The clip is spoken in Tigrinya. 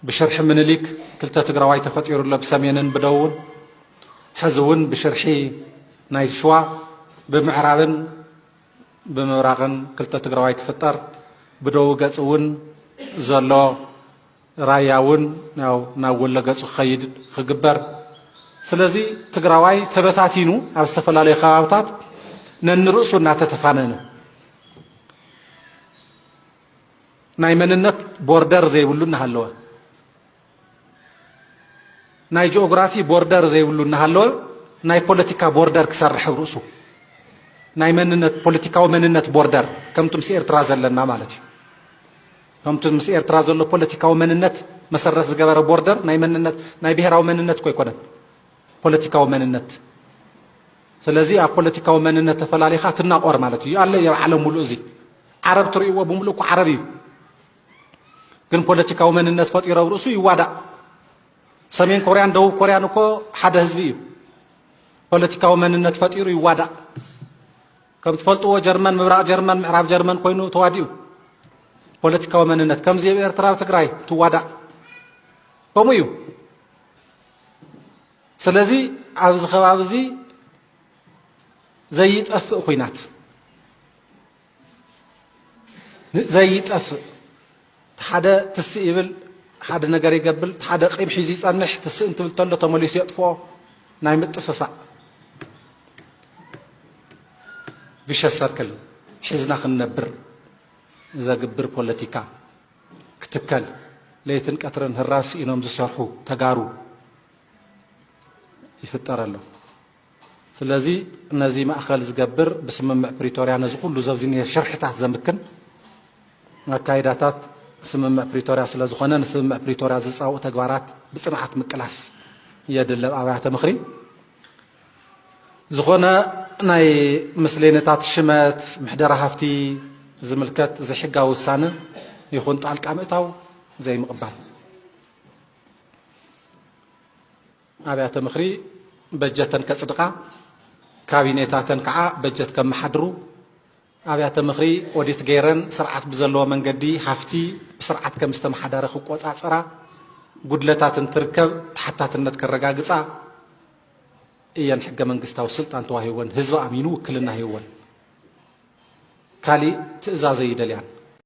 ብሽርሒ ምንሊክ ክልተ ትግራዋይ ተፈጢሩ ኣሎ ብሰሜንን ብደቡብን ሕዚ እውን ብሽርሒ ናይ ሽዋ ብምዕራብን ብምብራቕን ክልተ ትግራዋይ ክፍጠር ብደቡብ ገፅ እውን ዘሎ ራያ እውን ያው ናብ ወሎ ገፁ ክኸይድ ክግበር ስለዚ ትግራዋይ ተበታቲኑ ኣብ ዝተፈላለዩ ከባብታት ነንርእሱ እናተተፋነነ ናይ መንነት ቦርደር ዘይብሉ እናሃለወ ናይ ጂኦግራፊ ቦርደር ዘይብሉ እናሃለወ ናይ ፖለቲካ ቦርደር ክሰርሕ ኣብ ርእሱ ናይ መንነት ፖለቲካዊ መንነት ቦርደር ከምቲ ምስ ኤርትራ ዘለና ማለት እዩ ከምቲ ምስ ኤርትራ ዘሎ ፖለቲካዊ መንነት መሰረት ዝገበረ ቦርደር ናይ መንነት ናይ ብሔራዊ መንነት እኮ ኣይኮነን ፖለቲካዊ መንነት ስለዚ ኣብ ፖለቲካዊ መንነት ተፈላሊኻ ትናቆር ማለት እዩ ኣሎ ኣብ ዓለም ሙሉእ እዚ ዓረብ ትርእይዎ ብምሉእ እኮ ዓረብ እዩ ግን ፖለቲካዊ መንነት ፈጢሮ ኣብ ርእሱ ይዋዳእ ሰሜን ኮርያን ደቡብ ኮርያን እኮ ሓደ ህዝቢ እዩ ፖለቲካዊ መንነት ፈጢሩ ይዋዳእ ከም ትፈልጥዎ ጀርመን ምብራቕ ጀርመን ምዕራብ ጀርመን ኮይኑ ተዋዲኡ ፖለቲካዊ መንነት ከምዚ ኣብ ኤርትራ ትግራይ ትዋዳእ ከምኡ እዩ ስለዚ ኣብዚ ከባቢ እዚ ዘይጠፍእ ኩናት ዘይጠፍእ ሓደ ትስእ ይብል ሓደ ነገር ይገብል ሓደ ቂም ሒዙ ይጸንሕ ትስእ እንትብል ተሎ ተመሊሱ የጥፍኦ ናይ ምጥፍፋእ ብሸ ሰርክል ሒዝና ክንነብር ዘግብር ፖለቲካ ክትከል ለይትን ቀትርን ህራስ ኢኖም ዝሰርሑ ተጋሩ ይፍጠር ኣሎ። ስለዚ ነዚ ማእኸል ዝገብር ብስምምዕ ፕሪቶርያ ነዚ ኩሉ ዘዚ ዝኒሀ ሽርሕታት ዘምክን ኣካይዳታት ስምምዕ ፕሪቶርያ ስለ ዝኾነ ንስምምዕ ፕሪቶርያ ዝፃውኡ ተግባራት ብፅንዓት ምቅላስ የድለብ ኣብያተ ምኽሪ ዝኾነ ናይ ምስሌነታት ሽመት ምሕደራ ሃፍቲ ዝምልከት ዘይሕጋዊ ውሳነ ይኹን ጣልቃ ምእታው ዘይምቕባል ኣብያተ ምኽሪ በጀተን ከጽድቓ፣ ካቢኔታተን ከዓ በጀት ከመሓድሩ፣ ኣብያተ ምኽሪ ኦዲት ገይረን ስርዓት ብዘለዎ መንገዲ ሃፍቲ ብስርዓት ከም ዝተመሓደረ ክቆጻጸራ፣ ጉድለታት እንትርከብ ተሓታትነት ከረጋግጻ እየን ሕገ መንግስታዊ ስልጣን ተዋሂወን ህዝቢ ኣሚኑ ውክልና ሂወን ካሊእ ትእዛዘ ይደልያን።